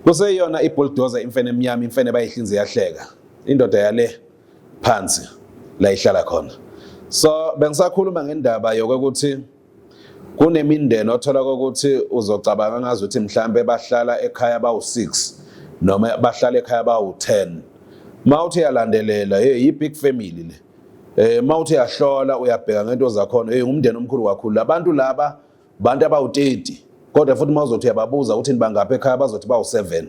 kuseyona ibuldoza imfene emnyama imfene bayihlinze yahleka indoda yale phansi la ihlala khona so bengisakhuluma ngendaba yokuthi kunemindeni othola ukuthi uzocabanga ngazi ukuthi mhlambe bahlala ekhaya bawu-6 noma bahlala ekhaya bawu-10 ma uthi yalandelela hey yi-big family le Eh mawuthi yahlola uyabheka ngento zakhona hey ngumndeni omkhulu kakhulu labantu laba bantu abawu-30 kodwa futhi mawuzothi uyababuza ukuthi nibangaphi ekhaya bazothi bawu-7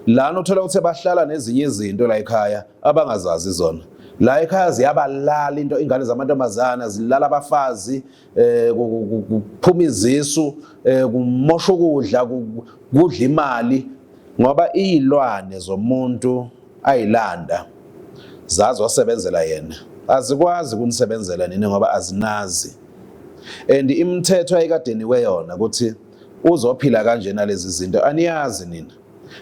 lana uthola ukuthi bahlala nezinye izinto la ekhaya abangazazi zona la ekhaya ziyabalala into ingane zamantombazana zilala abafazi eh kuphuma izisu eh kumosha ukudla kudla imali ngoba izilwane zomuntu ayilanda zazi wasebenzela yena azikwazi kunisebenzela nini ngoba azinazi and imithetho ayikadeni kweyona ukuthi uzophila kanjena lezi zinto aniyazi nina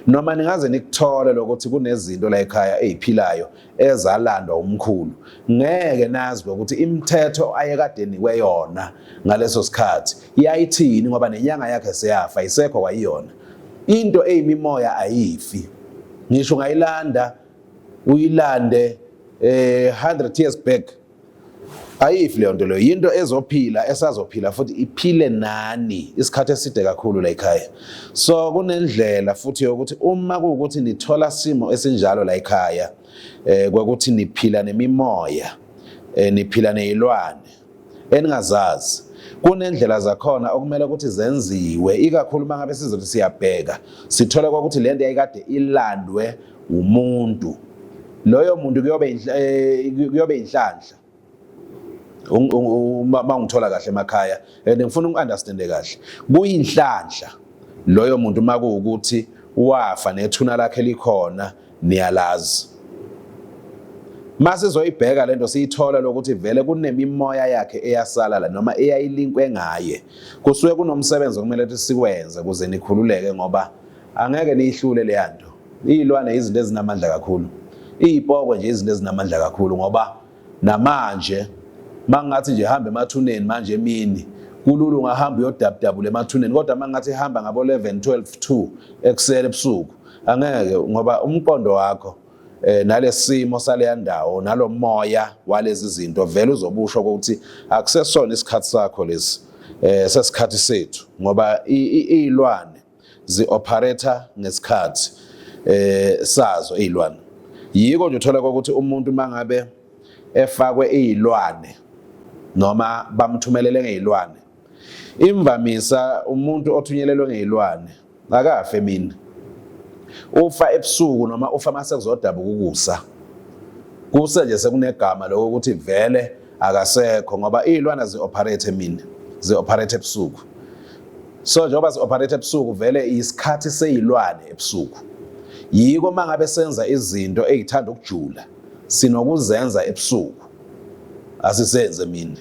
Noma ningaze nikuthole lokuthi kunezinto la ekhaya eziphilayo ezalandwa umkhulu. Ngeke nazi lokuthi imithetho ayekade nikwe yona ngaleso sikhathi yayithini ngoba nenyanga yakhe seyafa isekho kwayiyona. Into eyimimoya ayifi. Ngisho ungayilanda uyilande eh 100 years back ayifi leyo nto leyo yinto ezophila esazophila futhi iphile nani isikhathi eside kakhulu la ekhaya so kunendlela futhi yokuthi uma kuwukuthi nithola simo esinjalo la ekhaya eh kwakuthi niphila nemimoya eh niphila nezilwane eningazazi kunendlela zakhona okumele ukuthi zenziwe ikakhulu mangabe sizothi siyabheka sithola ukuthi lento yayikade ilandwe umuntu loyo muntu kuyobe eh, kuyobe inhlanhla uma ungithola kahle emakhaya and ngifuna uku-understande kahle kuyinhlanhla loyo muntu uma kuwukuthi wafa nethuna lakhe likhona niyalazi uma sizoyibheka le nto siyithola lokuthi vele kunemimoya yakhe eyasala la noma eyayilinkwe ngaye kusuke kunomsebenzi okumele ukuthi siwenze ukuze nikhululeke ngoba Angeke niyihlule leya nto. Iy'lwane izinto ezinamandla kakhulu. Iy'poko nje izinto ezinamandla kakhulu ngoba namanje uma ngathi nje hamba emathuneni manje emini kulula ungahamba uyodabudabula emathuneni kodwa uma ngathi hamba ngabo-11 12 2 ekusele ebusuku angeke ngoba umqondo wakho eh nalesimo saleya ndawo nalomoya walezi zinto vele uzobusho ukuthi akusesona isikhathi sakho lesi eh sesikhathi sethu ngoba izilwane zi-operator ngesikhathi eh sazo izilwane yiko nje uthola ukuthi umuntu mangabe efakwe izilwane noma bamthumelele ngezilwane imvamisa umuntu othunyelelwe ngezilwane akafe mina ufa ebusuku noma ufa mase kuzodabuka ukusa kuse nje sekunegama lokho ukuthi vele akasekho ngoba iy'lwana zi-operate emini zi-operate ebusuku so njengoba zi-operate ebusuku vele isikhathi seyilwane ebusuku yiko uma ngabe senza izinto ey'thanda ukujula sinokuzenza ebusuku asisenze mina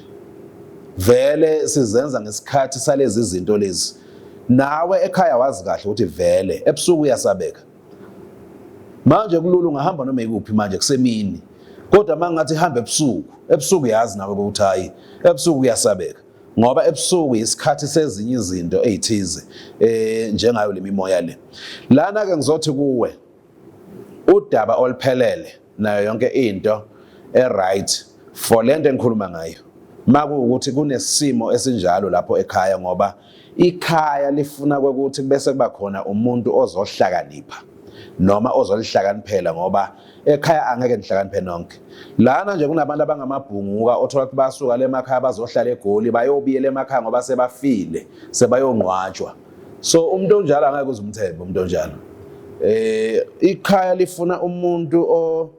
vele sizenza ngesikhathi salezi zinto lezi nawe ekhaya wazi kahle ukuthi vele ebusuku uyasabeka manje kulula ungahamba noma ikuphi manje kusemini kodwa uma ngathi hamba ebusuku ebusuku yazi nawe ukuthi hayi ebusuku kuyasabeka ngoba ebusuku isikhathi sezinye izinto ezithize eh njengayo lemimoya le lana ke ngizothi kuwe udaba oluphelele nayo yonke into eright for lento engikhuluma ngayo makuwukuthi kunesimo esinjalo lapho ekhaya ngoba ikhaya lifuna ukuthi bese kuba khona umuntu ozohlakanipha noma ozolihlakaniphela ngoba ekhaya angeke nihlakaniphe nonke lana nje kunabantu abangamabhunguka othola ukuthi basuka lemakhaya bazohlala egoli bayobiyela emakhaya ngoba sebafile sebayongqwatshwa so umuntu onjalo angeke uzumthembe umuntu onjalo eh ikhaya lifuna umuntu o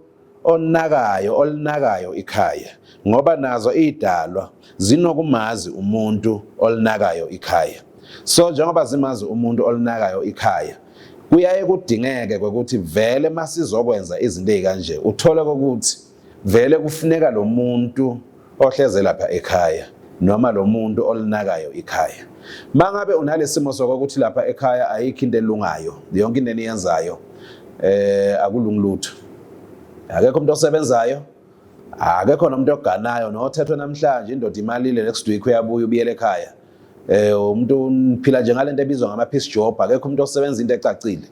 onakayo olinakayo ikhaya ngoba nazo idalwa zinokumazi umuntu olinakayo ikhaya so njengoba zimazi umuntu olinakayo ikhaya kuyaye kudingeke ukuthi vele masizokwenza izinto ezikanje uthole ukuthi Vele kufuneka lo muntu ohleze lapha ekhaya noma lo muntu olinakayo ikhaya. Uma ngabe unalesimo sokuthi lapha ekhaya ayikho into elungayo, yonke into eniyenzayo eh akulungi lutho. Akekho umuntu osebenzayo, akekho nomuntu oganayo nothethwe namhlanje indoda imalile next week uyabuya ubiyele ekhaya. eh umuntu uphila nje ngalento ebizwa ngama piece job akekho umuntu osebenza into ecacile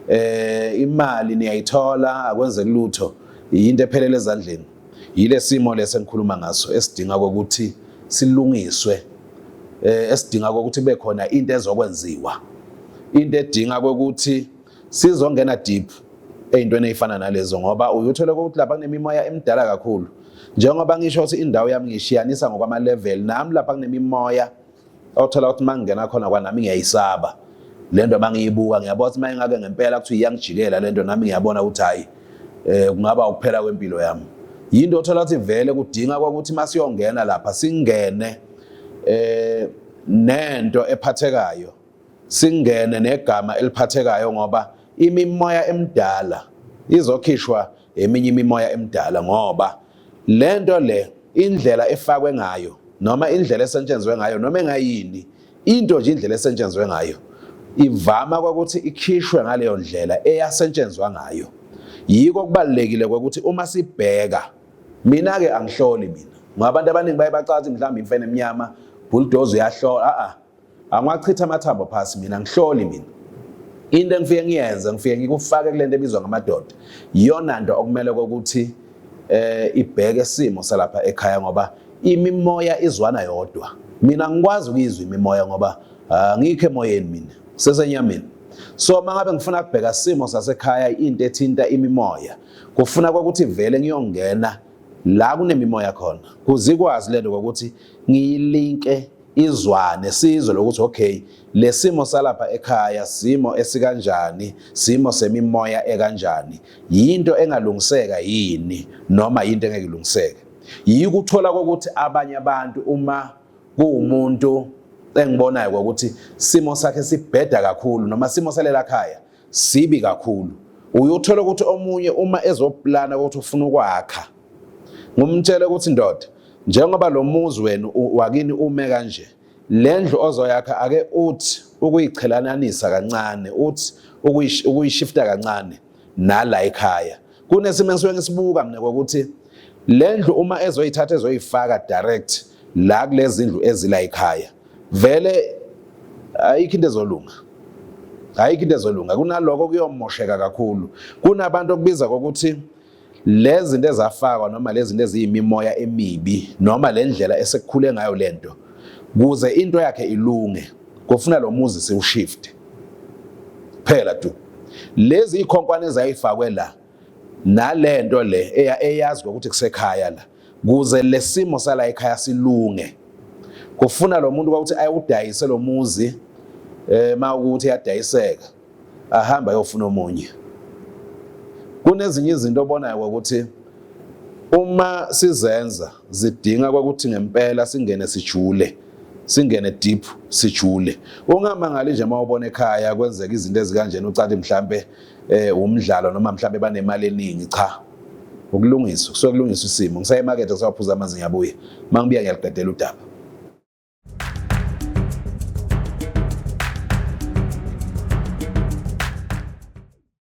eh imali niyayithola akwenze lutho yinto ephelele ezandleni yilesimo lesengikhuluma ngaso esidinga ukuthi silungiswe eh esidinga ukuthi kube khona into ezokwenziwa into edinga ukuthi Sizongena deep eyintweni eyifana nalezo ngoba uyuthole ukuthi lapha kunemimoya emidala kakhulu. Njengoba ngisho ukuthi indawo yami ngishiyanisa ngokwama level nami lapha kunemimoya othola ukuthi mangingena khona kwanami ngiyayisaba. Lento mangiyibuka ngiyabona ukuthi mayingake ngempela kuthi iyangijikela lento nami ngiyabona ukuthi hayi eh kungaba ukuphela kwempilo yami. Yinto othola ukuthi vele kudinga ukuthi masiyongena lapha singene eh nento ephathekayo Singene negama eliphathekayo ngoba imimoya emdala izokhishwa eminye imimoya emdala ngoba lento le indlela efakwe ngayo noma indlela esetshenzwe ngayo noma engayini into nje indlela esetshenzwe ngayo ivama kwakuthi ikhishwe ngaleyo ndlela eyasetshenzwa ngayo yiko kubalekile ukuthi uma sibheka mina ke angihloli mina ngabantu abaningi baye bacathi mhlawumbe imfene emnyama bulldozer uyahlola a a angiwachitha amathambo phasi mina ngihloli mina into engifike ngiyenze ngifike ngikufake kulento ebizwa ngamadoda iyona nto okumele kokuthi eh ibheke isimo salapha ekhaya ngoba imimoya izwana yodwa mina ngikwazi ukuyizwa imimoya ngoba ah, ngikho emoyeni mina sesenyameni so mangabe ngifuna kubheka isimo sasekhaya into ethinta imimoya kufuna kokuthi vele ngiyongena la kunemimoya khona kuzikwazi lento kokuthi ngiyilinke izwane sizwe lokuthi okay lesimo salapha ekhaya simo esikanjani simo semimoya ekanjani yinto engalungiseka yini noma yinto engeke ilungiseke yikuthola kokuthi abanye abantu uma kuwumuntu engibonayo ukuthi simo sakhe sibheda kakhulu noma simo salela khaya sibi kakhulu uyothola ukuthi omunye uma ezoplana ukuthi ufuna ukwakha ngumtshele ukuthi ndoda njengoba lo muzi wenu wakini ume kanje le ndlu ozoyakha ake uthi ukuyiqhelananisa kancane uthi ukuyishifta kancane nala ekhaya kunesimo engisuke ngisibuka mina kokuthi Le ndlu uma ezoyithatha ezoyifaka direct la kulezi ndlu ezila ekhaya vele ayikho into ezolunga ayikho into ezolunga kunaloko kuyomosheka kakhulu kunabantu okubiza kokuthi lezi zinto ezafakwa noma lezi zinto eziyimimoya emibi noma le ndlela esekukhule ngayo le nto kuze into yakhe ilunge kufuna lo muzi siwushifte phela tu lezi ikhonkwane ezayifakwe la nalento le eyazi ukuthi kusekhaya la kuze lesimo sala ekhaya silunge kufuna lo muntu ukuthi ayewudayise lo muzi eh mawukuthi yadayiseka ahamba ayofuna omunye kunezinye izinto obonayo ukuthi uma sizenza zidinga ukuthi ngempela singene sijule singene deep sijule ungamangali nje mawubona ekhaya kwenzeka izinto ezikanjena ucathi mhlambe eh umdlalo noma mhlambe banemali eningi cha ukulungisa kusuke kulungisa isimo ngisaye emakethe kusawaphuza amanzi ngiyabuya uma ngibuya ngiyaliqedela udaba